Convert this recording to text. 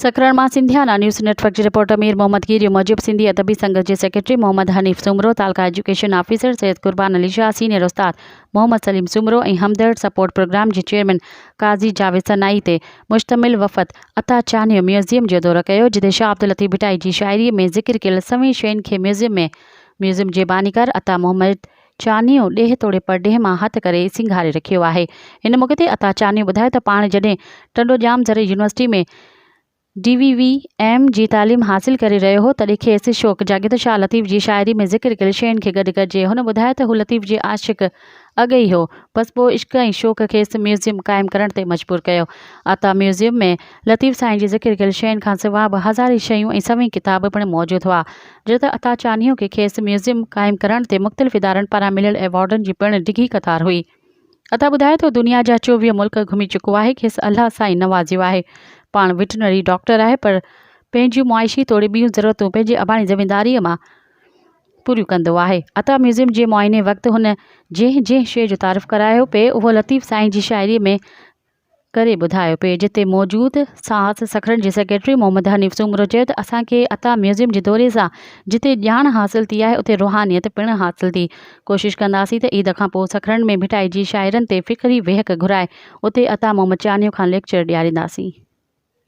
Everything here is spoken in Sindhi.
سکران مان سنڌيانا نيوز نيٽ ورڪ جي رپورٽر مير محمد گيريو موجب سنڌي ادبي سنگت جي سيڪريٽري محمد حنيف سومرو، تعلقه education officer Syed Qurban Ali Shah, senior استاد محمد سليم سومرو ۽ همدرد سپورٽ پروگرام جي چيئرمين قاضي جاويد سنائي تي مشتمل وفد عطا چانهيو ميوزيم جو دورو ڪيو جتي شاهه عبداللطيف ڀٽائي جي شاعري ۾ ذڪر ڪيل سوين شين کي ميوزيم ۾ ميوزيم جي بانيڪار عطا محمد چانيو ڏيهه توڙي پرڏيهه مان هٿ ڪري سينگاري رکيو آهي. هن موقعي تي عطا چانيو ٻڌايو ته پاڻ جڏهن ٽنڊوڄام زرعي university ۾ D V V M جي تعليم حاصل ڪري رهيو هو تڏهن کيس شوق جاڳيو ته شاهه لطيف جي شاعري ۾ ذڪر ڪيل شين کي گڏ ڪجي. هن ٻڌايو ته هو لطيف جي عاشق اڳ ئي هو بس پوء عشق ۽ شوق کيس ميوزيم قائم ڪرڻ تي مجبور ڪيو. عطا ميوزيم ۾ لطيف سائين جي ذڪر ڪيل شين کانسواء به هزارين شيون ۽ سوين ڪتاب پڻ موجود هئا. جو ته عطا چانيو کي کيس ميوزيم قائم ڪرڻ تي مختلف ادارن پاران مليل ايوارڊن جي پڻ ڊگهي قطار هئي. عطا ٻڌائي ٿو دنيا جا چوويهه ملڪ گهمي چڪو آهي، کيس الله سائين نوازيو آهي. پاڻ وٽرنري ڊاڪٽر آهي پر پنهنجيون معاشي توڙي ٻيون ضرورتون پنهنجي اباڻي زمينداريء مان پوريون ڪندو آهي. عطا ميوزيم جي معائني وقت هن جنهن جنهن شيء جو تعارف ڪرايو پئي اهو لطيف سائين جي شاعريء ۾ ڪري ٻڌايو. پيج تي موجود ساهت سکرن جي سيڪريٽري محمد حنيف سومرو چيو ته اسان کي عطا ميوزيم جي دوري سان جتي ڄاڻ حاصل ٿي آهي اتي روحانيت پڻ حاصل ٿي. ڪوشش ڪنداسين ته عيد کانپوء سکرن ۾ ڀٽائجي شاعرن تي فڪري ويهڪ گهرائي اتي عطا محمد چانيو کان ليڪچر ڏيارينداسين.